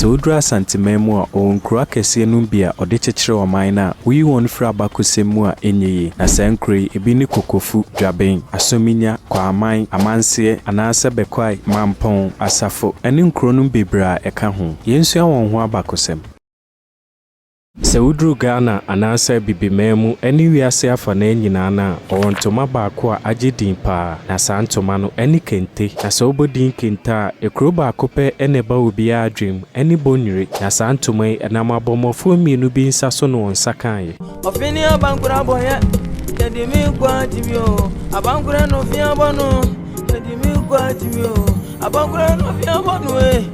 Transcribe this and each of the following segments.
Sɛ woduru Asanteman mu a, ɔwɔ nkuro akɛseɛ nom bi a ɔde kyekyere ɔman no a woyi wɔn firi abakɔsɛm mu a ɛnyɛ yie. Na saa nkuro yi, ebi ne Kokofu, Dwaben, Asominya, Kwaaman, Amanseɛ, anaasɛ Bekwai, Mampong, Asafo, ɛne nkuro nom bebree a ɛka ho. Yɛnsua wɔn ho abakɔsɛm. Sɛ woduru Ghana anaasɛ Bibiman mu ne wiase afanaa nyinaa no a, wɔwɔ ntoma baako a agye din paa, na saa ntoma no ne kente. Na sɛ wobɔ din kente a, ekuro baako pɛ na ɛba obiara adwenem, ɛne Bonyire. Na saa ntoma yi, ɛnam abɔmmɔfoɔ mmienu bi nsa so na wɔn nsa kaeɛ. Ɔfe ne abankoro abɔeɛ, yɛde me nkwa atim o. Abankoro ne ɔfe abɔ no, yɛde me nkwa atim o. Abankoro ne ɔfe abɔ no e.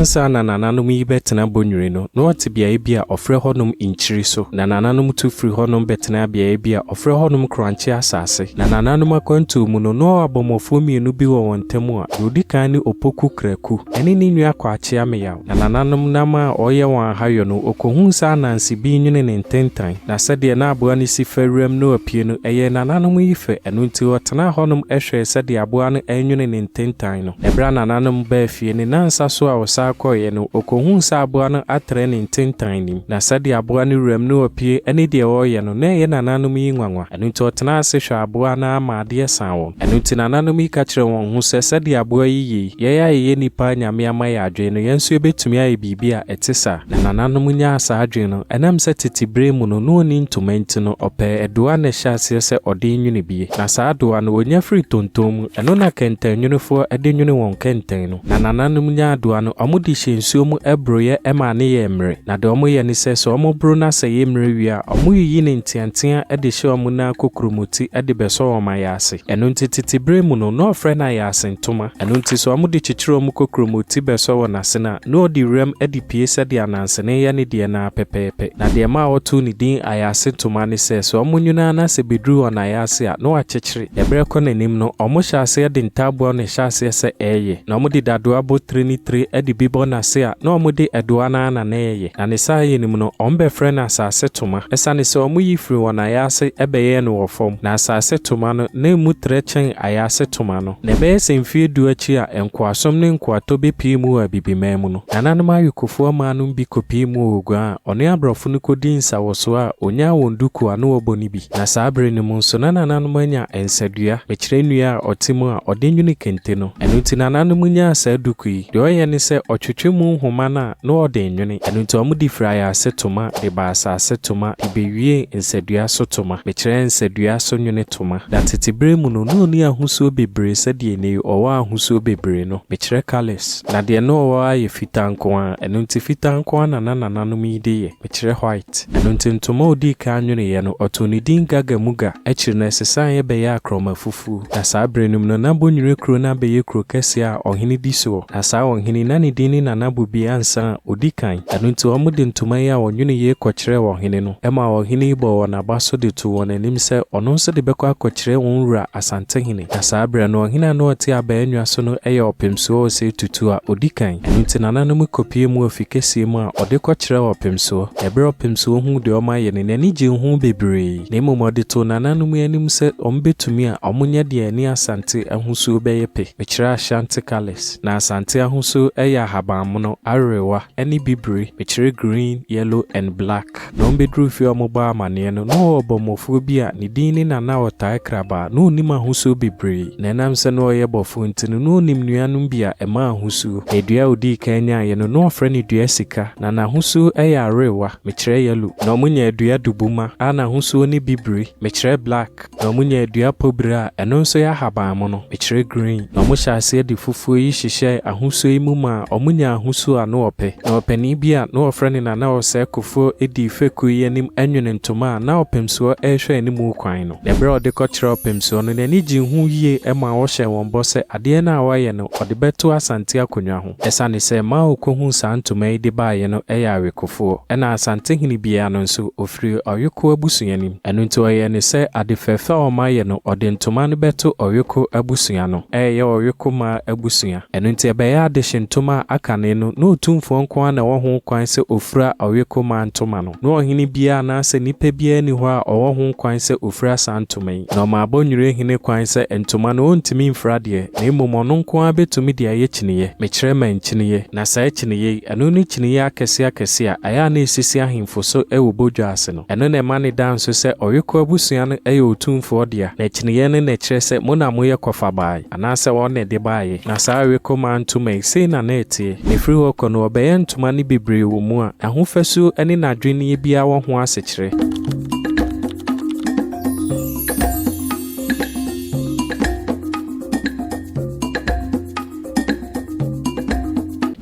Ansa na nananom yi bɛtena Bonwire no, na wɔte beaeɛ bi a wɔfrɛ hɔnom Nkyiri so. Na nananom tu firii hɔnom bɛtenaa beaeɛ bi a wɔfrɛ hɔnom Korankye asase. Na nananom akwantuo mu no, na wɔwɔ abɔmmɔfoɔ mmienu bi wɔ wɔn ntam a deɛ ɔdi kan ne Opoku Kraku, ɛne ne nua Kwakye Ameyaw. Na nananom nam a ɔyɛ wɔn aha yɔ no, okohun sɛ ananse bi nwene ne ntentan, na sɛdeɛ na aboa no si fa wuram na ɔpue no, ɛyɛɛ nananom yi fɛ, ɛno nti ɔtenaa hɔnom hwɛɛ sɛdeɛ aboa no renwene ne ntentan no. Ɛberɛ a nananom baa fie ne nnansa so a ɔsan kɔeɛ no, ɔkɔhuu sɛ aboa no atrɛ ne ntentan nim, na sɛdeɛ aboa no wuram na ɔpue ne deɛ ɔreyɛ no, na ɛyɛ nananom yi nwanwa. Ɛno nti ɔtenaa ase hwɛɛ aboa no ara ma adeɛ saa wɔn. Ɛno nti nananom yi ka kyerɛɛ wɔn ho sɛ, Sɛdeɛ aboa yi yɛ yi, yɛn a yɛyɛ nnipa a Nyame ama yɛn adwene no, yɛn nso yɛbɛtumi ayɛ biribi a ɛte saa. Na nananom nyaa saa adwene no. Ɛnam sɛ tete berɛ mu no, na ɔnni ntoma nti no, ɔpɛɛ aduwa na ɛhyɛ aseɛ sɛ ɔde nwene bie. Na saa aduwa no, ɔnya firi tonton mu. Ɛno na kɛntɛnnwonefoɔ de nwene wɔn kɛntɛn no. Na nananom nyaadowa no, wɔde hyɛ nsuo mu boroeɛ ma ano yɛ mmere, na deɛ wɔyɛ ne sɛ, sɛ wɔboro no asɛ yɛ mmere wie a, wɔyiyi ne nteateaa de hyɛ wɔn nan kokuromoti de bɛsɔ wɔn ayaase. Ɛno nti tete berɛ mu no, na wɔfrɛ no ayaase ntoma. Ɛno nti sɛ wɔde kyekyere wɔn kokuromoti bɛsɔ wɔn asene a, na wɔde wuram de pue sɛdeɛ anansene yɛ ne deɛ no ara pɛpɛɛpɛ. Na deɛ ɛmaa wɔtoo ne din ayaase ntoma ne sɛ, sɛ wɔnwono a na sɛ ɛbɛduru wɔn ayaase a, na wɔakyekyere. Ɛberɛ kɔ n'anim no, wɔn hyɛ aseɛ de ntaaboa na ɛhyɛ aseɛ sɛ ɛɛye, na wɔn de dadoa bɔ tire ne tire de bi bɔ n'ase a na wɔn de ɛdoa no ara na na ɛɛye, na ne saa ye no mu no wɔn bɛ frɛ no asaase toma, ɛsane sɛ wɔn yi firi wɔn ayaase bɛ yɛɛ no wɔ fam, na asaase toma no na ɛmu trɛ kyɛn ayaase toma no. Na ɛbɛyɛ sɛ mfie du akyi a nkoasom ne nkoatɔ bɛ pii mu wɔ abibiman mu no, nananom ayokofoɔ mmaa nom bi kɔ pii mu wɔ oguan a ɔne abrɔfo no kɔ dii nsawɔsoɔ a ɔnyaa wɔn dukuu a na wɔbɔ no bi. Na saa bere no mu nso na nananom anya nsadua, mekyerɛ nnua a ɔte mu a ɔde nwene kente no. Ɛno nti nananom nyaa saa duku yi. Deɛ ɔyɛ ne sɛ ɔtwetwe mu nhoma no a na ɔde nwene. Ɛno nti wɔde firi ayaase toma de baa asase toma de bɛwiee nsadua so toma, mekyerɛ nsadua so nwene toma. Na tete berɛ mu no na ɔnni ahosuo bebree sɛdeɛ ɛnnɛ yi ɔwɔ ahosuo bebree no, mekyerɛ colours. Na deɛ na ɔwɔ ara yɛ fitaa nko ara, ɛno nti fitaa nko ara na na nananom yi de yɛ. ɛkyerɛ white. Ɛno nti ntoma a ɔdii kan nweneeɛ no, ɔtoo ne din Gaga Muga. Akyiri no, ɛsesaeɛ bɛyɛɛ Akrɔma Fufuo. Na saa berɛ no mu no, na Bonyire kuro no abɛyɛ kuro kɛseɛ a ɔhene di soɔ. Na saa ɔhene yi, na ne din ne Nana Bobi Ansah a ɔdi kan. Ɛno nti wɔde ntoma yi a wɔnwene yei kɔkyerɛɛ ɔhene no. Ɛmaa ɔhene yi bɔɔ wɔn aba so de too wɔn anim sɛ ɔno nso de bɛkɔ akɔkyerɛ wɔn wura Asantehene. Na saa berɛ no, ɔhene a na ɔte Abaɛnwa so no yɛ Ɔpemsoɔ Osei Tutu a ɔdi kan. Ɛno nti nananom kɔpuee mu wɔ fikɛseɛ mu a ɔde kɔkyerɛɛ Ɔpemsoɔ. Ɛberɛ a Ɔpemsoɔ huu deɛ wɔayɛ no, n'ani gyee ho bebree, na mmom ɔde too nananom anim sɛ wɔbɛtumi a wɔnyɛ deɛ ɛne Asante ahosuo bɛyɛ pɛ. Mekyerɛ Ashanti colours. Na Asante ahosuo yɛ ahabanmono, awerewa, ne bibire. Mekyerɛ green, yellow and black. Na wɔbɛduruu fie a wɔbɔɔ amanneɛ no, na ɔwɔ ɔbɔmmɔfoɔ bi a ne din ne Nana a ɔtaa kraba a na ɔnnim ahosuo bebree. Na ɛnam sɛ na ɔyɛ bɔfoɔ nti no, na ɔnim nnuanom bi a ɛma ahosuo. Na dua a ɔdii kan nyaeɛ no, na wɔfrɛ no dua sika. Na n'ahosuo yɛ awerewa, mekyerɛ yellow. Na wɔnya dua dubuma a n'ahosuo ne bibire, mekyerɛ black. Na wɔnyaa dua pɔbiri a ɛno nso yɛ ahabanmono, mekyerɛ green, na wɔhyɛɛ aseɛ de fufuo yi hyehyɛɛ ahosuo yi mu maa wɔnyaa ahosuo a na wɔpɛ. Na ɔpanin bi a na wɔfrɛ no Nana Ɔsɛe Kofoɔ dii fekuo yi anim anwene ntoma a na ɔpemsoɔ rehwɛ anim kwan no. Na berɛ a ɔde kɔkyerɛɛ ɔpemsoɔ no, n'ani gyee ho yie maa ɔhyɛɛ wɔn bɔ sɛ adeɛ no a wɔayɛ no, wɔde bɛto Asante akonnwa ho. Esiane sɛ Mao kohuu saa ntoma yi de baeɛ no yɛ awekofoɔ, ɛna Asantehene biara no nso ɔfiri ɔweko abusua no mu. Ɛno nti ɔyɛɛ no sɛ ade fɛfɛ a wɔayɛ no, ɔde ntoma no bɛto ɔweko abusua no, ɛreyɛ ɔweko mmaa abusua. Ɛno nti ɛbɛyɛ adehye ntoma a akane no, na Otumfoɔ nko ara na ɔwɔ ho kwan sɛ ɔfira ɔweko mmaa ntoma no. Na ɔhene biara anaasɛ nipa biara nni hɔ a ɔwɔ ho kwan sɛ ɔfira saa ntoma yi, na ɔma abɔnnwire hene kwan sɛ ntoma no ɔntumi mfira deɛ, na mmom ɔno nko ara bɛtumi de ayɛ kyiniiɛ, mekyerɛ mankyiniiɛ, na saa kyiniiɛ yi, ɛno ne kyiniiɛ akɛseɛ akɛseɛ a ɛyɛ a na ɛsisi ahemfo so wɔ badwa ase no, ɛno na ɛma no da nso sɛ ɔwekoɔ abusua no yɛ ɔtumfoɔ dea, na kyiniiɛ no na ɛkyerɛ sɛ mo na moyɛ kɔfabaa yi. Anaasɛ wɔn na ɛde baeɛ. Na saa awekomaa ntoma yi, sei na na ɛteɛ. Na ɛfiri hɔ rekɔ no, wɔbɛyɛ ntoma no bebree wɔ mu a ɛho fasuo ne n'adwenneɛ biara wɔ ho asekyerɛ.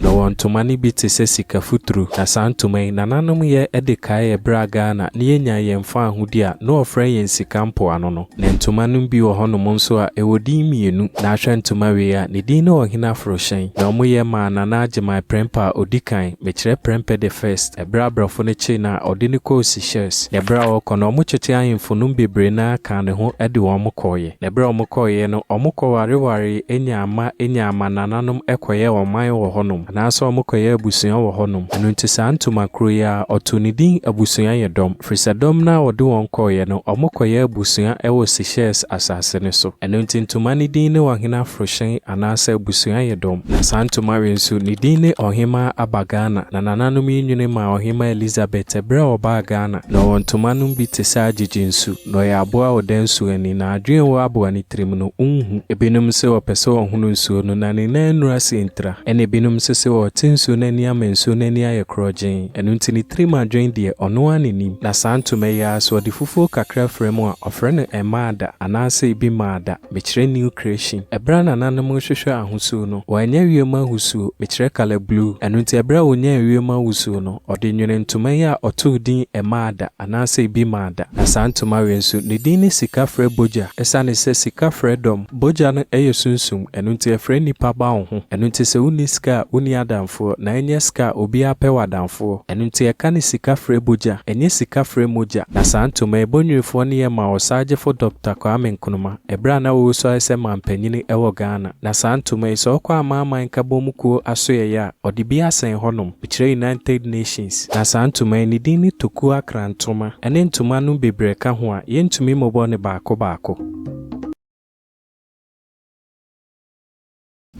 Na wɔn ntoma no bi te sɛ sika futuru. Na saa ntoma yi, nananom yɛ de kae ɛberɛ a Ghana na yɛnyaa yɛn faahodi a na wɔfrɛ yɛn sika mpoano no. Na ntomanom bi wɔ hɔnom nso a ɛwɔ din mmienu. Na ahwɛ ntoma wei a, ne din ne Ɔhene Aforohyɛn. Na wɔyɛ maa Nana Agyemang Prɛmpɛ a ɔdi kan, mekyerɛ Prɛmpɛ the First, ɛberɛ a abrɔfo no kyee no a wɔde no kɔɔ Seychelles. Na ɛberɛ a wɔrekɔ no, wɔkyetee ahemfo nom bebree no ara kaa ne ho de wɔn kɔeɛ. Na berɛ a wɔkɔeɛ no, wɔkɔwarewaree nyaa mma nyaa mmanananom kɔyɛɛ ɔman wɔ hɔnom, anaasɛ wɔkɔyɛɛ abusua wɔ hɔnom. Ɛno nti saa Ntooma kuro yi ara, wɔtoo no din Abusua yɛ dɔm, ɛfiri sɛ dɔm no ara a wɔde wɔn kɔeɛ no, wɔkɔyɛɛ abusua wɔ Seychelles asase no so. Ɛno nti Ntooma no din ne Ɔhene Aforohyɛn anaasɛ Abusua yɛ dɔm. Na saa Ntooma wei nso, ne din ne Ɔhemmaa Aba Ghana. Na nananom yi nwene maa Ɔhemmaa Elizabeth berɛ a ɔbaa Ghana. Na ɔwɔ ntomanom bi te sɛ agyegye nsu. Na ɔyɛ aboa a ɔda nsuo ani, na adwene wɔ aboa no tirim no, ɔnhu. Ebinom nso ɔpɛ sɛ ɔhono nsuo no, na ne nan nnuru ase ntira. Ɛnna ebinom nso sɛ ɔte nsuo no ani ama nsuo no ani ayɛ korɔgyeen. Ɛno nti ne tirim adwene deɛ, ɔno ara na ɛnim. Na saa ntoma yi ara so, ɔde fufuo kakra fra mu a, ɔfrɛ no Emmada, anaasɛ ebi Maada, mekyerɛ New Creation. Ɛberɛ a nananom rehwehwɛ ahosuo no, wɔannya wiem ahosuo, mekyerɛ Colour Blue. Ɛno nti ɛberɛ a ɔnyaa wiem ahosuo no, ɔde nwene ntoma yi a ɔtoo din Emmada. anaasɛ ebi maa da. Asaah Ntumare nso, ne din ne Sika Frɛ Bogya. Esiane sɛ sika frɛ dɔm, bogya no yɛ sunsum, ɛno nti ɛfrɛ nnipa ba wo ho. Ɛno nti sɛ wonni sika a, wonni adamfoɔ, na ɛnyɛ sika a, obiara pɛ w'adamfoɔ. Ɛno nti yɛka no Sika Frɛ Bogya, ɛnyɛ Sika Frɛ Mogya. Na saa ntoma yi, Bonwirifoɔ no yɛ maa Ɔsagyefo Dɔkta Kwame Nkrumah. Ɛberɛ a na ɔresuae sɛ manpanin wɔ Ghana, na saa ntoma yi, sɛ ɔkɔ Amanaman Nkabom mu kuo asoɛeɛ a, ɔde bi asɛn hɔnom, kyerɛ United Nations. Na saa ntoma yi, ne din ne Tokuo Akra ntoma, ɛne ntoma nom bebree ka ho a, yɛntumi mmobɔ no baako baako.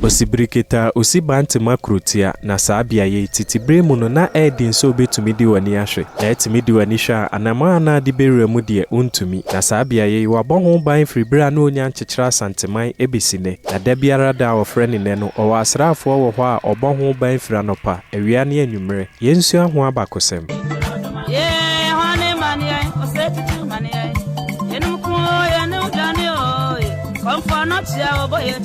Osi birikita a osi bantama kurotia, na saa beaeɛ yi, tete berɛ mu no, na ɛyɛ den sɛ wobɛtumi de w'ani ahwɛ. Na atumi de w'ani hwɛ a, anammɔn anan de bɛwura mu deɛ, wontumi. Na saa beaeɛ yi, wɔabɔ ho ban firi berɛ a na wɔnnya nkyekyeree Asanteman bɛsi nnɛ. Na da biara da a wɔfrɛ no nnɛ no, wɔwɔ asraafoɔ wɔ hɔ a wɔbɔ ho ban firi anɔpa, awia ne anwummerɛ. Yɛnsua ho abakɔsɛm. Yee, hwane ma ne yɛn? Ɔsɛ titiriw ma ne yɛn. Yɛnom ko o, yɛne wo dwane o, ye. Kɔmfoɔ no kyea o, bɔ yɛ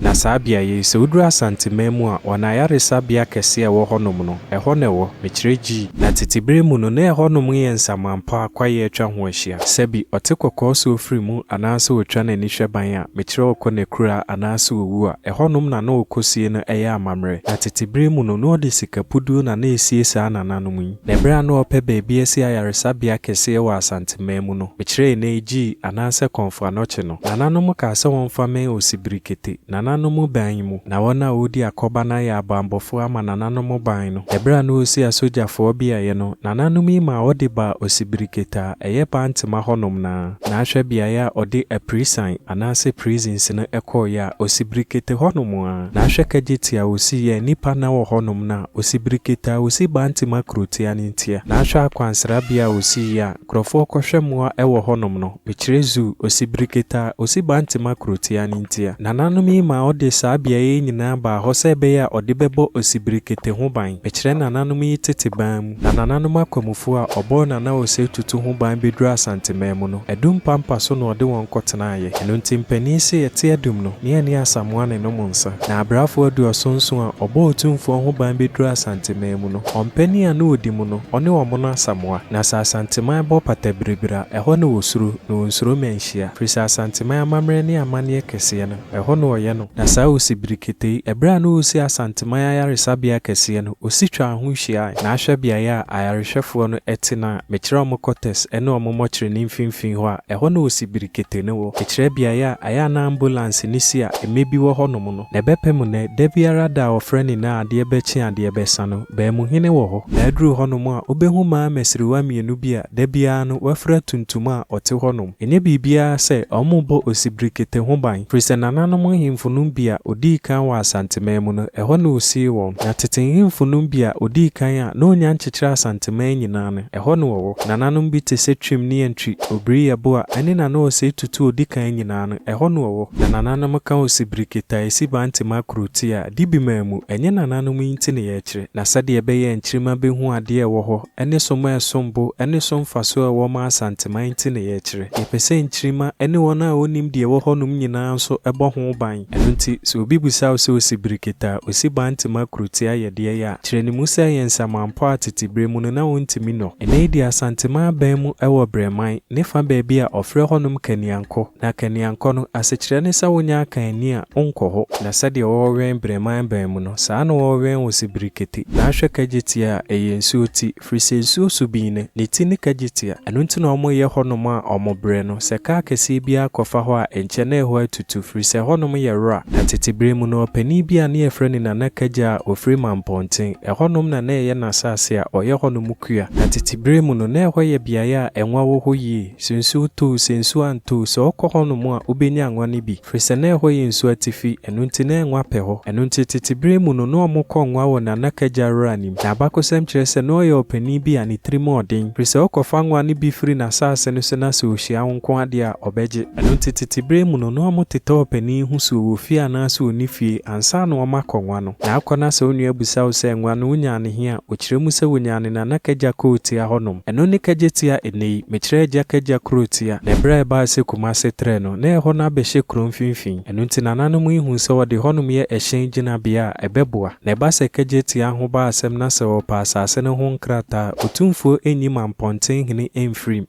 Na saa beaeɛ yi, sɛ woduru Asanteman mu a, wɔn ayaresabea kɛseɛ a ɛwɔ hɔnom no, ɛhɔ na ɛwɔ, mekyerɛ G. Na tete berɛ mu no, na ɛhɔnom yɛ nsamanpɔ a kwaeɛ atwa ho ahyia. Sɛbi, ɔte kɔkɔɔ so ɔfiri mu, anaasɛ ɔtwa n'ani hwɛ ban a, mekyerɛ ɔkɔ n'akuraa, anaasɛ ɔwu a, ɛhɔnom na na ɔkɔsie no yɛ amammerɛ. Na tete berɛ mu no, na wɔde sika puduo na na ɛsie saa nananom yi. Na berɛ a na wɔpɛ baabi asi ayaresabea kɛseɛ wɔ Asanteman mu no, mekyerɛ ɛnnɛ yi G, anaasɛ Kɔmfoanɔkye no, Nananom kaa sɛ wɔmfa mmɛn Osibrikete, Nananom ban mu, na wɔn a wɔredi akɔba no ayɛ abanbɔfoɔ ama Nananom ban no. Ɛberɛ a na wɔresi asogyafoɔ beaeɛ no, Nananom yi maa wɔde baa Osibrikete a ɛyɛ Bantema hɔnom no ara, na ahwɛ beaeɛ a wɔde aprisan anaasɛ prisons no kɔeɛ a, Osibrikete hɔnom ara, na ahwɛ Kegyeti a wɔsiiɛ a nnipa nna wɔ hɔnom no a, Osibrikete a wɔsi Bantema kurotia no ntia, na ahwɛ akwansrabea a wɔsiiɛ a, Nkurɔfoɔ kɔhwɛ mmoa wɔ hɔnom no, mekyerɛ Zuu, ɔsi biriketa, ɔsi Bantema kurotia no ntia. Nananom yi maa ɔde saa beaeɛ yi nyinaa baa hɔ sɛ ɛbɛyɛ a ɔde bɛbɔ Osibirikete ho ban. Mekyerɛ nananom yi tete ban mu. Na nananom akwamufoɔ a ɔbɔɔ Nana Osei Tutu ho ban bɛduru Asanteman mu no, Adum pampa so na ɔde wɔn kɔtenaeɛ. Ɛno nti mpanin se ɛte Adum no, ne ɛne Asamoah ne nom nsa. Na abrafoɔ aduɔson nson a ɔbɔɔ Otumfoɔ ho ban bɛduru Asanteman mu. Asanteman mu no, ɔmpanin a na ɔdi mu no, ɔne wɔn no Asamoah. Na sɛ Asanteman bɔ pata biribiri a, ɛhɔ na wɔsuro, na wɔnsuro ma ɛnhyia. Firi sɛ Asanteman amammerɛ ne amanneɛ kɛseɛ no, ɛhɔ na ɔyɛ no. Na saa Osi Birikete yi, ɛberɛ a na ɔresi Asanteman ayaresabea kɛseɛ no, Osi twaa ho hyiaae. Na ahwɛ beaeɛ a ayarehwɛfoɔ no te no a, mekyerɛ wɔn quarters ne wɔn mɔkyere no mfimfini hɔ a, ɛhɔ na Osi Birikete no wɔ. Mekyerɛ beaeɛ a ɛyɛ a na ambulanse no si a mmɛ bi wɔ hɔnom no. Na ɛbɛpɛ mu nnɛ, da biara da a ɔfrɛ no nyinaa adeɛ bɛkye adeɛ bɛsa no, Baamuhene wɔ hɔ. Na aduru hɔ nom a, wobɛhu mmaa mmasiriwa mmienu bi a da biara no wɔafira tuntum a wɔte hɔ nom. Ɛnyɛ biribiara sɛ wɔrebɔ osibirekete ho ban, firi sɛ nananom nhemfo nom bi a wɔdii kan wɔ Asanteman mu no, ɛhɔ na wɔsii wɔn. Na tete nhemfo nom bi a wɔdii kan a na wɔnnya nkyekyeree Asanteman nyinaa no, ɛhɔ na wɔwɔ. Nananom bi te sɛ Twim ne Antwi, Obiriyɛboa, ɛne Nana Osei Tutu a ɔdi kan nyinaa no. Ɛhɔ no ɔwɔ, na nananom ka ɔsi birikita esi bantim akoro ti a, di bi maa mu. Ɛnyɛ nananom yi nti na yɛkyerɛ, na sɛdeɛ ɛbɛyɛ a nkyirima bɛhu adeɛ a ɛwɔ hɔ, ne som a ɛsom bo, ne so mfasoɔ a ɛwɔ ma Asanteman nti na yɛkyerɛ. Yɛpɛ sɛ nkyirima ne wɔn a wɔnnim deɛ ɛwɔ hɔnom nyinaa nso bɔ ho ban. Ɛno nti, sɛ obi bisa wo sɛ ɔsi birikita a ɔsi bantim akoro ti ayɛ deɛn a, kyerɛ no mu sɛ ɛyɛ nsamanpɔ a tete berɛ mu no na wɔntumi nɔ. Ɛnnɛ yi deɛ Asanteman aban mu wɔ Brɛman ne fa baabi a ɔfrɛ hɔnom Kaniankɔɔ. kɔ. Na kaniankɔ no, asekyerɛ ne sɛ wonya akanni a wonkɔ hɔ. Na sɛdeɛ wɔwɛn berɛman bɛn mu no, saa ara na wɔwɛn wo se birikete. Na ahwɛ kagyeteɛ a, ɛyɛ nsuo ti, firi sɛ nsuo so bi no, ne ti ne kagyetea. Ɛno nti na wɔyɛ hɔnom a wɔbrɛ no. Sɛ kaa kɛseɛ biara kɔfa hɔ a, nkyɛ na ɛhɔ atutu, firi sɛ ɛhɔnom yɛ wora. Na tete berɛ mu no, ɔpanin bi a ne yɛfrɛ no Nana Kagya a ɔfiri Mampɔnten, ɛhɔnom na na ɛyɛ n'asaase a ɔyɛ hɔnom kua. Na tete berɛ mu no, na ɛhɔ yɛ beaeɛ a nwa wɔ hɔ yie. Sɛ nsuo tɔ o, sɛ nsuo antɔ o, sɛ ɔkɔ hɔnom a, ɔbɛnya ngo no bi, firi sɛ na ɛhɔ yɛ nsuo atifi, ɛno nti na ngo apɛ hɔ. Ɛno nti tete berɛ mu no, na wɔkɔ ngoa wɔ Nanaka agya Rora anim. Na abakɔsɛm kyerɛ sɛ na ɔyɛ ɔpanin bi a ne tirim yɛ ɔden, firi sɛ ɔkɔfa ngoa no bi firi n'asaase no so na sɛ ɔhyia wo nko ara deɛ a, ɔbɛgye. Ɛno nti tete berɛ mu no, na wɔtetɛ ɔpanin yi ho suo wɔ fie anaasɛ ɔnni fie, ansa na wɔakɔ ngoa no. Na akɔ na sɛ wo nua bisa wo sɛ, Ngoa no, wonyaa no he a, ɔkyerɛ mu sɛ wɔnyaa no Nanaka agya Kootia hɔnom. Ɛno ne kagyetia ɛnnɛ yi, mekyerɛ agya kagya kurotia, na ɛberɛ a ɛbaeɛ sɛ Kumase trɛ no, na ɛhɔ no abɛhyɛ kuro mfimfini, ɛno nti nananom yi huu sɛ wɔde hɔnom yɛ ɛhyɛn gyinabea a, ɛbɛboa. Na ɛba sɛ kagyetia ho ba asɛm na sɛ wɔpɛ asase no ho nkrataa a, otumfoɔ nyi Mampɔntenhene mfirim.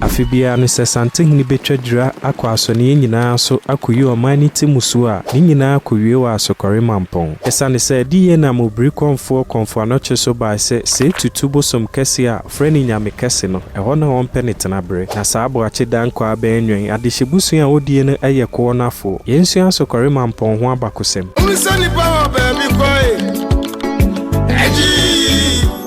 Afe biara no sɛ Santehene betwa dwira akɔ asɔneɛ nyinaa so akoyi ɔman no ti mmusuo a, ne nyinaa kowie wɔ Asokɔre Mampɔn. Esiane sɛ adi yie nam Obirikɔmfoɔ Kɔmfoanɔkye so bae sɛ sei tutu bosom kɛseɛ a wɔfrɛ no Nyame Kɛse no, ɛhɔ na wɔmpɛ ne tenabere. Na saa Aboakye Dankwa Abɛɛnwɛn adehyebusua a ɔdie no yɛ koɔ no afoɔ. Yɛnsua Asokɔre Mampɔn ho abakosɛm. Hunu sɛ nnipa wɔ baabi kɔ e, ɛgyee.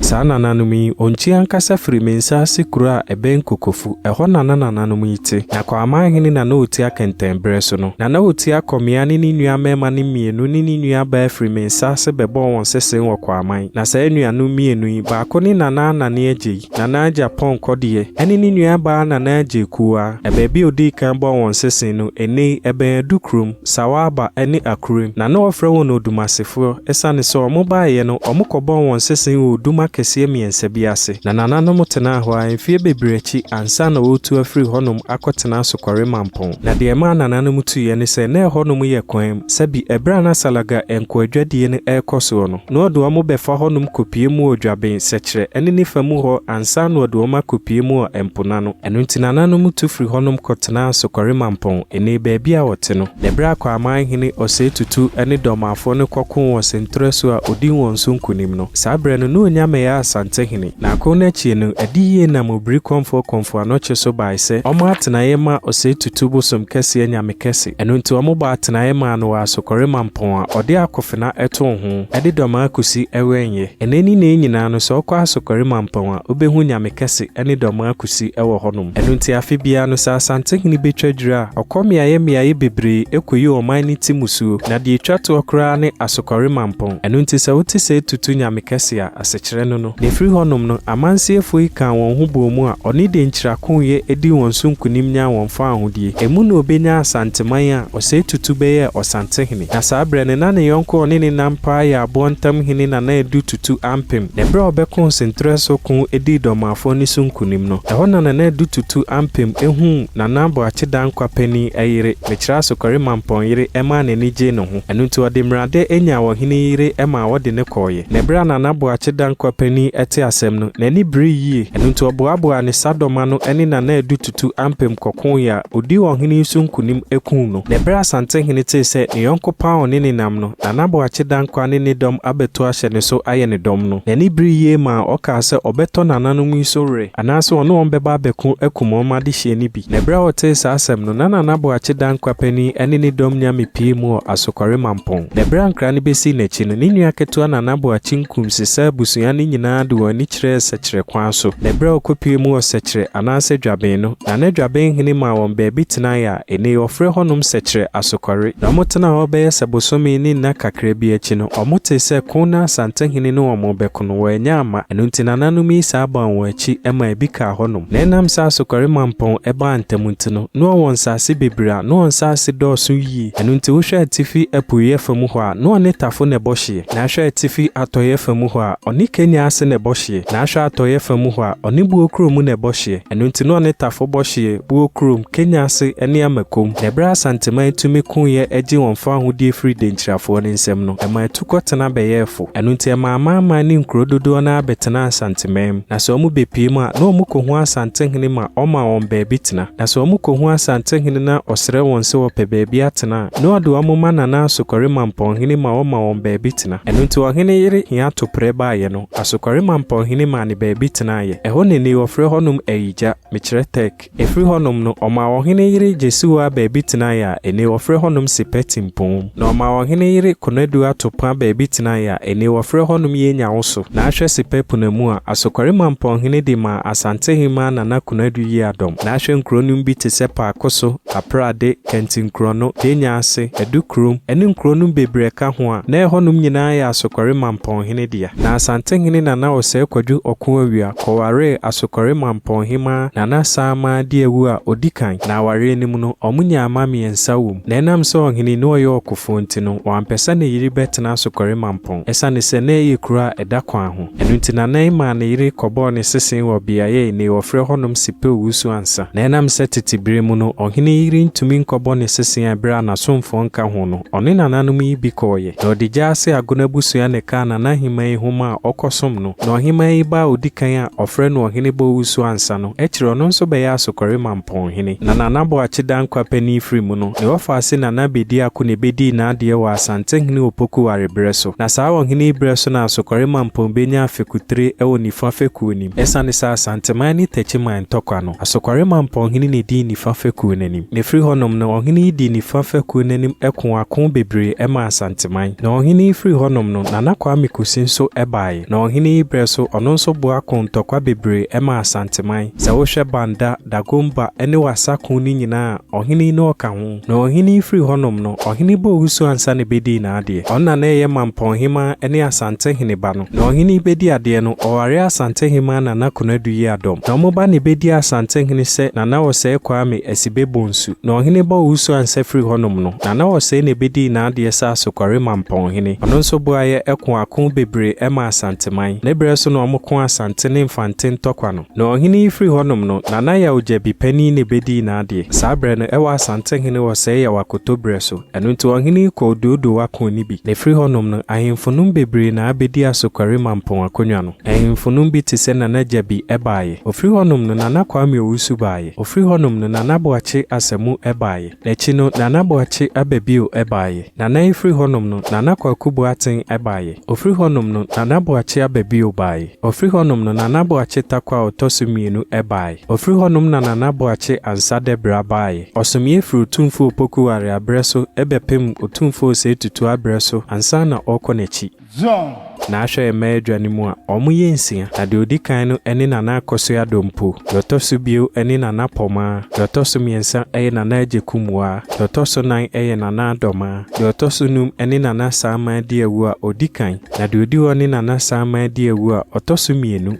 Saa nananom yi, Onkyi ankasa firi Mensah ase kuro a ɛbɛn Kokofu. Ɛhɔ na na nananom yi te. Na Kwaman hene na na ɔtia kɛntɛn berɛ so no. Na na ɔtia Kɔmea ne ne nua mmarima no mmienu ne ne nua baa firi Mensah ase bɛbɔɔ wɔn sesee wɔ Kwaman. Na saa anuanom mmienu yi, baako ne Nana Anane Agyei, Nana Agya Pɔn Kɔdeɛ, ɛne ne nua baa Nana Agyei Kuwaa. Na baabi a ɔdii kan bɔɔ wɔn sesee no, ɛnnɛ yi, ɛbɛn Adu kurom. Sawaaba ne Akuren, na na wɔfrɛ wɔn Odumasefoɔ esiane sɛ wɔn baeɛ no wɔn kɔbɔɔ wɔn sese wɔ odum akɛseɛ mmiɛnsa bi ase, na nananom tenaa hɔ ara mfeɛ bebree akyi ansa na wɔretu afiri hɔnom akɔtena Asokɔre Mampɔn. Na deɛ ɛmaa nananom tuiɛ ne sɛ na ɛhɔnom yɛ kwan mu, sɛbi ɛberɛ a na Salaga nkoadwadie no rekɔ soɔ no, na wɔde wɔn bɛfa hɔnom kɔpue mu wɔ Dwaben, Sɛkyerɛ ne ne fa mu hɔ ansa na wɔde wɔn akɔpue mu wɔ Mponano. Ɛno nti nananom tu firi hɔnom kɔtenaa Asokɔre Mampɔn, nnee baabi a wɔte no. Na berɛ a Kwaman hene Osei Tutu ne Dormafoɔ no kɔkoo wɔ Sentorɛ so a ɔdii wɔn so nkonim no, saa berɛ no na ɔnya mmɛyɛ Asante hene. Na ako no akyie no, adi yie nam Obiri Kɔmfoɔ Kɔmfo Anokye so baae sɛ ɔmmɔ atenaeɛ mma Osei Tutu bosom kɛseɛ Nyamekɛse. Ɛno nti wɔbɔɔ atenaeɛ maa no wɔ Asokɔre Mampɔn a ɔde Akofena too ho de Dormaa kɔsi Ɛwɛnyɛ. Nnɛ ne nnee nyinaa no sɛ wokɔ Asokɔre Mampɔn a wobɛhu Nyamekɛse. ne dɔm akosi wɔ hɔnom. Ɛno nti afe biara no, sɛ Asantehene betwa dwiri a, ɔkɔ mmeaeɛ mmeaeɛ bebree kɔyi ɔman no ti mmusuo, na deɛ ɛtwa toɔ koraa ne Asokɔre Mampong. Ɛno nti sɛ wote sɛ atutu Nyame kɛse a, asekyerɛ no no. Na ɛfiri hɔnom no, amansiefoɔ yi kaa wɔn ho bɔɔ mu a ɔne de nkyira koeɛ dii wɔn so nkonim nyaa wɔn faa ahodie. Emu na ɔbɛnyaa Asanteman a ɔsɛ atutu bɛyɛɛ Ɔsantehene. Na saa berɛ no, na ne yɔnko a ɔne no nam paa yɛ aboɔ ntam hene Nana Adu Tutu Ampem. Na berɛ a ɔbɛkoo Nsenterɛsoɔ ko dii Dɔmaafoɔ no so nkunim no, ɛhɔ na Nana Adu Tutu Ampem huu Nana Boakye Danquah panin yere, Mekyerɛ Asokware Mampɔn yere maa n'ani gyee ne ho. Ɛno nti ɔde mmerade nyaa ɔhene yi yere maa wɔde no kɔeɛ. Na berɛ a Nana Boakye Danquah panin tee asɛm no, n'ani beree yie. Ɛno nti ɔboaboaa ne sadɔm ano ne Nana Adu tu ampem kɔkoe a odii ɔhene yi so nkonim kum no. Na bere a Asantehene tee sɛ ne yɔnko Paon ne ne nam no, na Nanaboakye Dankwa ne ne dɔm abɛto ahyɛ ne so ayɛ ne dɔm no, n'ani beree yie maa ɔkaa sɛ ɔbɛtɔ nananom yi so were, anaasɛ ɔne wɔn bɛba abɛko akum wɔn adehyeɛ no bi. Na bere a ɔtee saa asɛm no, na Nanaboakye Dankwa panin ne ne dɔm nya mepie mu wɔ Asokɔre Mampong. Na bere a nkra no bɛsii n'akyi no, ne nua ketewa Nanaboakye Nkum sesaa abusua no nyinaa de wɔn ani kyerɛɛ Sɛkyerɛ kwan so. Na bere a ɔkɔpuee mu wɔ Sɛkyerɛ, anaasɛ Dwaben no, na na Dwaben hene maa wɔn baabi tenae a nnɛ yi wɔfrɛ hɔnom Sɛkyerɛ Asokɔre, na wɔtenaa hɔ bɛyɛ sɛ bosome ne nna kakra bi akyi no, wɔtee sɛ ko na Asantehene ne wɔn rebɛko no, wɔannya amma, ɛno nti nananom yi saa baa wɔn akyi ma ebi kaa hɔnom. Na ɛnam sɛ Asokɔre mampɔn baa ntɛm nti no, na wɔwɔ nsaase bebree a na wɔn nsaase dɔɔso yie, ɛno nti wohwɛ atifi apueeɛ fa mu hɔ a, na ɔne Tafo na ɛbɔ hyeɛ, na hwɛ atifi atɔeɛ fa mu hɔ a, ɔne Kenya ase na ɛbɔ hye. Na ahwɛ atɔeɛ fa mu hɔ a, ɔne Buo Kuro mu na ɛbɔ hyeɛ. Ɛno nti na ɔne Tafo bɔ hyeɛ, Buo Kurom, Kenya ase ne Amakom. Na ɛberɛ a Asanteman tumi koeɛ gye wɔn fawohodie firii Denkyirafoɔ no nsam no, ɛmaa atukɔtena bɛyɛɛ fo. Ɛno nti ɛmaa amanaman ne nkuro dodoɔ no ara bɛtenaa Asanteman mu. Na sɛ wɔbɛpue mu a, na wɔkɔhu Asantehene ma ɔma wɔn baabi tena. Na sɛ wɔkɔhu Asantehene na ɔsrɛ wɔn sɛ wɔpɛ baabi atena a, na ɔde wɔn ma Nana Asokore Mampɔnhene ma ɔma wɔn baabi tena. Ɛno nti ɔhene yere hia toprɛ baeɛ no, Asokɔre Mampɔn hene maa no baabi tenaeɛ. Ɛhɔ na ɛnnɛ yi wɔfrɛ hɔnom Ayigya, mekyerɛ Turk. Ɛfiri hɔnom no, ɔmaa ɔhene yere Gyesiwoa baabi tenaeɛ a ɛnnɛ yi wɔfrɛ hɔnom Sepɛ Timpoom. Na ɔmaa ɔhene yere Konadu Atopa baabi tenaeɛ a ɛnnɛ yi wɔfrɛ hɔnom Yenya Woso. Na ahwɛ Sepɛ Punamu a, Asokɔre Mampɔn hene de maa Asantehemmaa Nana Konadu Yiadɔm. Na ahwɛ nkuro nom bi te sɛ Paakoso, Kapra de Kɛntɛnkurɔ no, Kenya ase, Adu kurom, ne nkuro no bebrɛ ka ho a, na ɛhɔnom nyinaa yɛ Asokɔre Mampɔnhene dea. Na Asantehene Nana Osei Kwadu Ɔko-Awia kɔwaree Asokɔre Mampɔnhemaa Nana Samaa Diawu a ɔdi kan, na awareɛ no mu no, wɔnyaa mma mmiɛnsa wɔ mu. Na ɛnam sɛ ɔhene no ɔyɛ ɔkofoɔ nti no, wampɛ sɛ ne yere bɛtena Asokɔre Mampɔn, ɛsiane sɛ na ɛyɛ kuro a ɛda kwan ho. Ɛno nti na Nai maa ne yere kɔbɔɔ ne sese wɔ beaɛ enei wɔfrɛ hɔnom Sipeu Wusu Ansa. Na ɛnam sɛ tete berɛ mu no, ɔhene yi yere ntumi nkɔbɔ ne sese a ɛberɛ a n'asomfoɔ nka ho no, ɔne nananom yi bi kɔeɛ. Na ɔde gyaa ase Agona abusua na ɛkaa Nana Aheman yi ho ma a ɔkɔsom no. Na Ɔheman yi ba a ɔdi kan a wɔfrɛ no Ɔhene Boa Wusu Ansa no, akyire ɔno nso bɛyɛɛ Asokɔre Mampa. pɔn hene. Na Nana Boakye Dankwa panin firi mu no, ne wɔfaase Nana Bedi Ako na ɛbɛdii n'adeɛ wɔ Asantehene Opoku wareberɛ so. Na saa ɔhene yi berɛ so na Asokɔre Mampong bɛnyaa fekutire wɔ nifa fekuo no mu. Ɛsiane sɛ Asanteman ne Takyiman ntɔkwa no, Asokɔre Mampong hene na ɛdii nifa fekuo no anim. Na ɛfiri hɔnom no, ɔhene yi dii nifa fekuo no anim koo ako bebree maa Asanteman. Na ɔhene yi firi hɔnom no, Nana Kwame Kusi nso baeɛ. Na ɔhene yi berɛ so, ɔno nso boa koo ntɔkwa bebree maa Asanteman. Sɛ wohwɛ Banda, Dagomba, ne Wassa ko no nyinaa a, ɔhene yi na ɔka ho. Na ɔhene yi firi hɔnom no, ɔhene bɔɔ wusu ansa na ɛbɛdii n'adeɛ. Ɔno na na ɛyɛ Mampɔnhemaa ne Asante heneba no. Na ɔhene yi bɛdi adeɛ no, ɔwaree Asantehemaa Nana Konadu Yiadɔm. Na wɔn ba na ɛbɛdii Asantehene sɛ Nana Ɔsɛe Kwame Asibe Bonsu. Na ɔhene bɔɔ wusu ansa firi hɔnom no, Nana Ɔsɛe na ɛbɛdii n'adeɛ sɛ Asokɔre Mampɔnhene. Ɔno nso boaeɛ koo ako bebree maa Asanteman. Ne berɛ so na wɔkoo Asante ne Mfante ntɔkwa no. Na ɔhene yi firi hɔnom no, Nana Yaw Gyabi panin na ɛbɛdii n'adeɛ. Saa berɛ no, ɛwɔ Asante hene Ɔsɛe Yaw Akoto berɛ so. Ɛno nti ɔhene yi kɔɔ Oduoduowa koo no bi. Na ɛfiri hɔnom no, ahemfonom bebree na abɛdi Asokware Mampong akonnwa no. Ahemfonom bi te sɛ Nana Gyabi baeɛ. Ɔfiri hɔnom no, Nana Kwame Owusu baeɛ. Ɔfiri hɔnom no, Nana Boakye Asamu baeɛ. N'akyi no, Nana Boakye Ababio baeɛ. Nana yi firi hɔnom no, Nana Kwaku Boateng baeɛ. Ɔfiri hɔnom no, Nana Boakye aba bio baeɛ. Ɔfiri hɔnom no, Nana Boakye tako a ɔtɔ so mmienu baeɛ. Ɔfiri hɔnom na Nana Boakye Ansah Dabira baeɛ. Ɔsomeeɛ firi Otumfuo Opoku Ware aberɛ so bɛpem Otumfuo Osei Tutu aberɛ so ansa na ɔrekɔ n'akyi. Zone. Na ahwɛ yɛn mmaa adwa no mu a, wɔyɛ nsia, na deɛ ɔdi kan no ne Nana Akosua Dompo, deɛ ɔtɔ so bio ne Nana Pomaa, deɛ ɔtɔ so mmiɛnsa yɛ Nana Agyeku Mbuaa, deɛ ɔtɔ so nan yɛ Nana Adomaa. Deɛ ɔtɔ so num ne Nana Saama Adiawu a ɔdi kan, na deɛ ɔdi hɔ ne Nana Saama Adiawu a ɔtɔ so mmienu.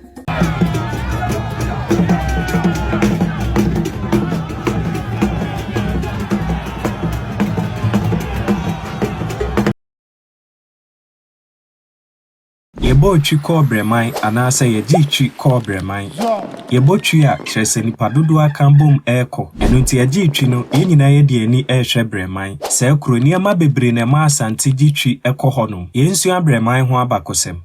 Yɛbɔɔ twi kɔɔ Brɛman anaasɛ yɛgyee twi kɔɔ Brɛman. Yɛbɔ twi a, kyerɛ sɛ nnipa dodoɔ aka bom rekɔ. Ɛno nti yɛgyee twi no, yɛn nyinaa yɛde yɛn ani rehwɛ Brɛman. Saa kuro, nneɛma bebree na ɛma Asante gye twi kɔ hɔnom. Yɛnsua Brɛman ho abakɔsɛm.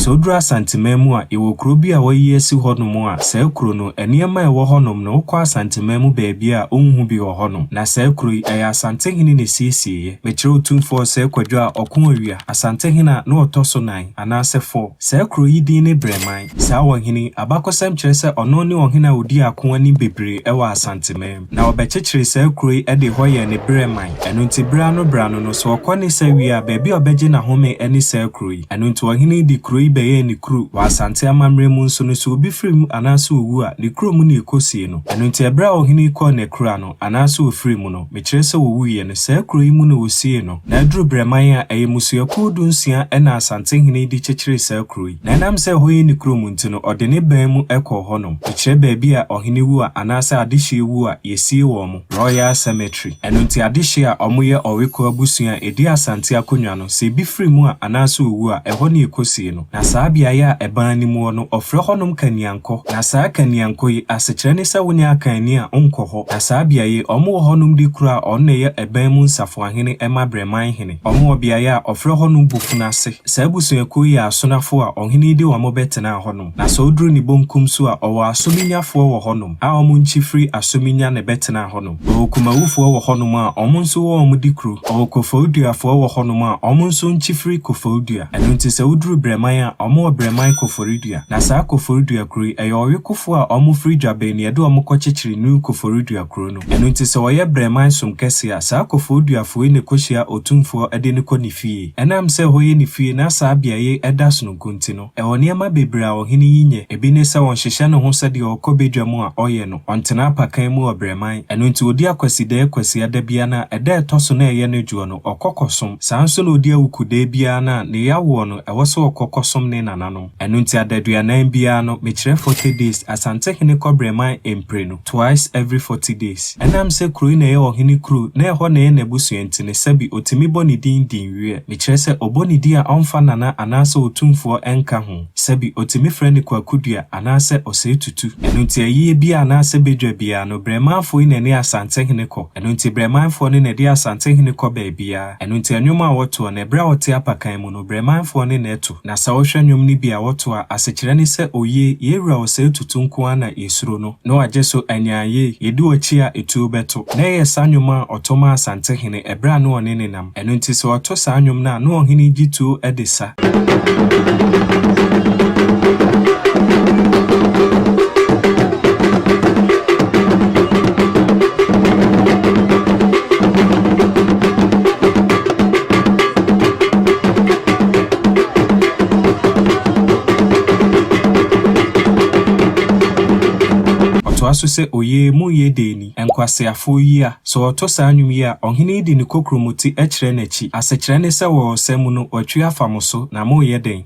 Sɛ woduru Asanteman mu a, yɛwɔ kuro bi a wɔayi asi hɔnom a saa kuro no, nneɛma a ɛwɔ hɔnom no, wokɔ Asanteman mu baabiara a, wonhu bi wɔ hɔnom. Na saa kuro yi, ɛyɛ Asantehene na ɛsiesieeɛ. Mekyerɛ wo tumfoɔ sɛ Kwadwo a ɔko awia, Asantehene a na ɔtɔ so nan, anaasɛ fɔ. Saa kuro yi din ne Brɛman. Saa ɔhene yi, abakɔsɛm kyerɛ sɛ ɔno ne ɔhene a ɔdii ako anim bebree wɔ Asanteman. Na ɔbɛkyekyeree saa kuro yi de hɔ yɛɛ ne Brɛman. Ɛno nti berɛ ano berɛ ano no, sɛ ɔkɔ ne sa wie a, baabi a ɔbɛgye n'ahome ne saa kuro yi. Ɛno nti ɔhene yi de kuro yi bɛyɛɛ ne kuro. Wɔ Asante amammerɛ mu nso no, sɛ obi firi mu anaasɛ ɔwu a, ne kuro mu na ɛkɔsie no. Ɛno nti ɛberɛ a ɔhene yi kɔɔ Nakura no, anaasɛ ɔfirii mu no, mekyerɛ sɛ ɔwuiɛ no, saa kuro yi mu na wɔsiee no, na aduru berɛ man a ɛyɛ mmusuakuo dunsia na Asantehene de kyekyeree saa kuro yi, na ɛnam sɛ ɛhɔ yɛ ne kurom nti no, ɔde ne bɛn mu kɔɔ hɔnom, mekyerɛ baabi a ɔhene wu a anaasɛ adehyeɛ wu a, yɛsie wɔn, Royal Cemetery. Ɛno nti adehyeɛ a wɔyɛ Ɔweko abusua a ɛdi Asante akonnwa no, sɛ ɛbi firi mu a anaasɛ ɔwu a, ɛhɔ na yɛkɔsie no. Na saa beaeɛ a ɛbã anim hɔ no, wɔfrɛ hɔnom Kaniankɔ. Na saa Kaniankɔ yi, asekyerɛ ne sɛ wonyɛ akanni a, wonkɔ hɔ. Na saa beaeɛ yi, wɔwɔ hɔnom de kuro a wɔn na ɛyɛ ɛbã mu nsafoahene ma Brɛman hene. Wɔwɔ beaeɛ a wɔfrɛ hɔnom Bofunu ase. Saa abusuakuo yi yɛ asonafoɔ a ɔhene yi de wɔn bɛtenaa hɔnom. Na sɛ woduru ne bonkum so a, wɔwɔ Asominyafoɔ wɔ hɔnom a wɔn nkyi firi Asominya na ɛbɛtenaa hɔnom. Ɔwɔ Kumawufoɔ wɔ hɔnom a wɔn nso wɔ wɔn de kuro. Ɔwɔ Koforiduafoɔ wɔ hɔnom a wɔn nso nkye firi Koforidua. Ɛno nti sɛ woduru Brɛman a, wɔn wɔ Brɛman Koforidua. Na saa Koforidua kuro yi, ɛyɛ ɔwekofoɔ a wɔn firi Dwabɛn na ɛde wɔn kɔ kyekyere New Koforidua kuro no. Ɛno nti sɛ wɔyɛ Brɛman som kɛseɛ a, saa Koforiduafoɔ yi na ɛkɔhyia Otumfoɔ de no kɔ ne fie. Ɛnam sɛ ɛhɔ yɛ ne fie na saa beaɛ yi da sononko nti no, Ɛwɔ nneɛma bebree a ɔhene yi nyɛ. Ebi ne sɛ ɔnhyehyɛ ne ho sɛ deɛ ɔkɔ badwa mu a ɔyɛ no, ɔntena apakan mu ɔbrɛman. Ɛno nti ɔdi Akwasidaɛ Kwasiada biara no a ɛda a ɛtɔ so no a ɛyɛ no dwoɔ no, ɔkɔ kɔsom. Saa nso na ɔdi Awukudaɛ biara no a ne yere awoɔ no, ɛwɔ sɛ ɔkɔ kɔsom ne nananom. Ɛno nti adaduanan biara no, mekyerɛ forty days, Asantehene kɔ brɛman mprenu. twice every forty days. Ɛnam sɛ kuro yi na ɛyɛ ɔhene kuro na ɛhɔ na ɛyɛ n'abusua nti no, sɛbi ɔtumi bɔ ne din din wiɛ. Mekyerɛ sɛ ɔbɔ ne din a ɔmfa Nana anaasɛ Otumfoɔ nka ho. Sɛbi ɔtumi frɛ no Kwakudua anaasɛ Ɔsɛetutu. Ɛno nti ayie biara anaasɛ badwa biara no, Brɛmanfoɔ yi na ɛne Asantehene kɔ. Ɛno nti Brɛmanfoɔ no na ɛde Asantehene kɔ baabiara. Ɛno nti ɛnwom a wɔtoɔ no, ɛberɛ a ɔte apakan mu no, Brɛmanfoɔ ne na ɛto. Na sɛ wohwɛ nnwom no bi a wɔto a, asekyerɛ ne sɛ Oye, yɛn wura ɔsɛe tutu nko ara na yɛsuro no, na wagye so anyaa yei, yɛdi w'akyi a etuo bɛto. Na ɛyɛ saa nnwom a ɔto maa Asantehene ɛberɛ a na ɔne no nam. Ɛno nti sɛ ɔto saa nnwom no a, na ɔhene gye tuo de sa. Ɔtoa so sɛ, Oyee, monyɛ dɛn ni, nkwaseafoɔ yi a! Sɛ wɔto saa nnwom yi a, ɔhene yi de ne kokuromoti kyerɛ n'akyi. Asekyerɛ ne sɛ wɔ ɔsa mu no, watwi afa mo so, na moreyɛ dɛn?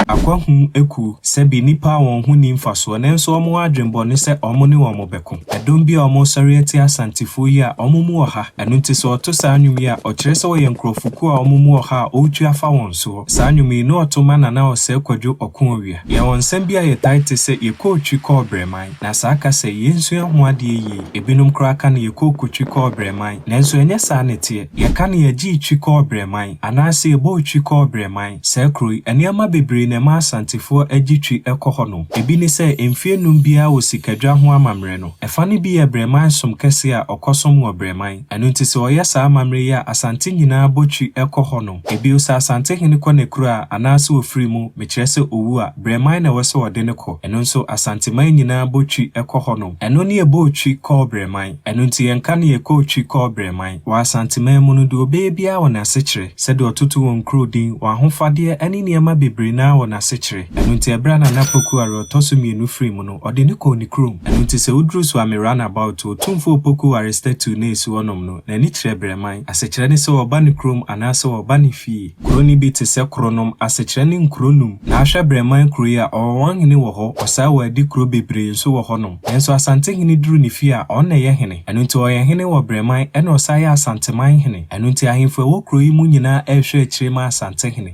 Akwahu akuw, sɛbi nnipa a wɔn ho nni mfasoɔ nanso wɔn adwene bɔ ne sɛ wɔn ne wɔn bɛko. Ɛdɔm bi a wɔresɔre atia Asantefoɔ yi a wɔn mu ɔha. Ɛno nti sɛ ɔto saa nnwom yi a, ɔkyerɛ sɛ ɔyɛ nkurɔfokuo a wɔn mu ɔha a ɔretu afa wɔn soɔ. Saa nnwom yi, na ɔto ma Nana Osei Kwadwo Ɔko-Awia. Yɛwɔ nsɛm bi a yɛtae te sɛ, Yɛkɔɔ twi kɔɔ Brɛman, na saa kasa yi, yɛnsua ho adeɛ yie. Ebinom koraa ka no Yɛkɔɔ kotwi kɔɔ Brɛman, nanso ɛnyɛ saa na ɛteɛ. Yɛka no Yɛgyee twi kɔɔ Brɛman, anaase Yɛbɔɔ twi kɔɔ Brɛman. Saa kuro yi, nneɛma bebree na ɛma Asantefoɔ gye twi kɔ hɔnom. Ebi ne sɛ, mfeɛ nnum biara wɔ sikadwa ho amammerɛ no, ɛfa no bi yɛ Brɛman som kɛseɛ a ɔkɔsom wɔ Brɛman. Ɛno nti sɛ ɔyɛ saa amammerɛ yi a, Asante nyinaa bɔ twi kɔ hɔ nom. Bio, sɛ Asantehene kɔ n'akuraa anaasɛ ɔfiri mu, mekyerɛ sɛ ɔwu a, Brɛman na ɛwɔ sɛ ɔde no kɔ. Ɛno nso, Asanteman nyinaa bɔ twi kɔ hɔ nom. Ɛno ne yɛbɔɔ twi kɔɔ Brɛman. Ɛno nti yɛnka no yɛkɔɔ twi kɔɔ Brɛman. Wɔ Asanteman mu no, deɛ ɔbɛyɛ biara wɔ n'asekyerɛ. Sɛdeɛ ɔtoto wɔn nkuro din, wɔn ahofadeɛ ne nneɛma bebree no ara wɔ n'asekyerɛ. Ɛno nti ɛberɛ a Nana Poku Aroa ɔtɔ so mmienu firi mu no, Ɔde no kɔɔ ne kurom. Ɛno nti sɛ woduru so a me run about to Otumfo Opoku Aristatu na esi hɔ nom no, n'ani kyerɛ Brɛman. Asekyerɛ ne sɛ ɔba ne kurom anaa sɛ ɔba ne fie. Kuro no bi te sɛ Kronom, asekyerɛ ne nkuro num. Na ahwɛ Brɛman kuro yi a, Ɔwɔnwanhene wɔ hɔ, ɔsaa wɔ adi kuro bebree nso wɔ hɔ nom. Nanso Asantehene duru ne fie a, ɔno na ɛyɛ hene. Ɛno nti ɔyɛ hene wɔ Brɛman ɛna ɔsan yɛ Asanteman hene. Ɛno nti ahemfo a ɛwɔ kuro yi mu nyinaa ɛrehwɛ akyire ma Asantehene.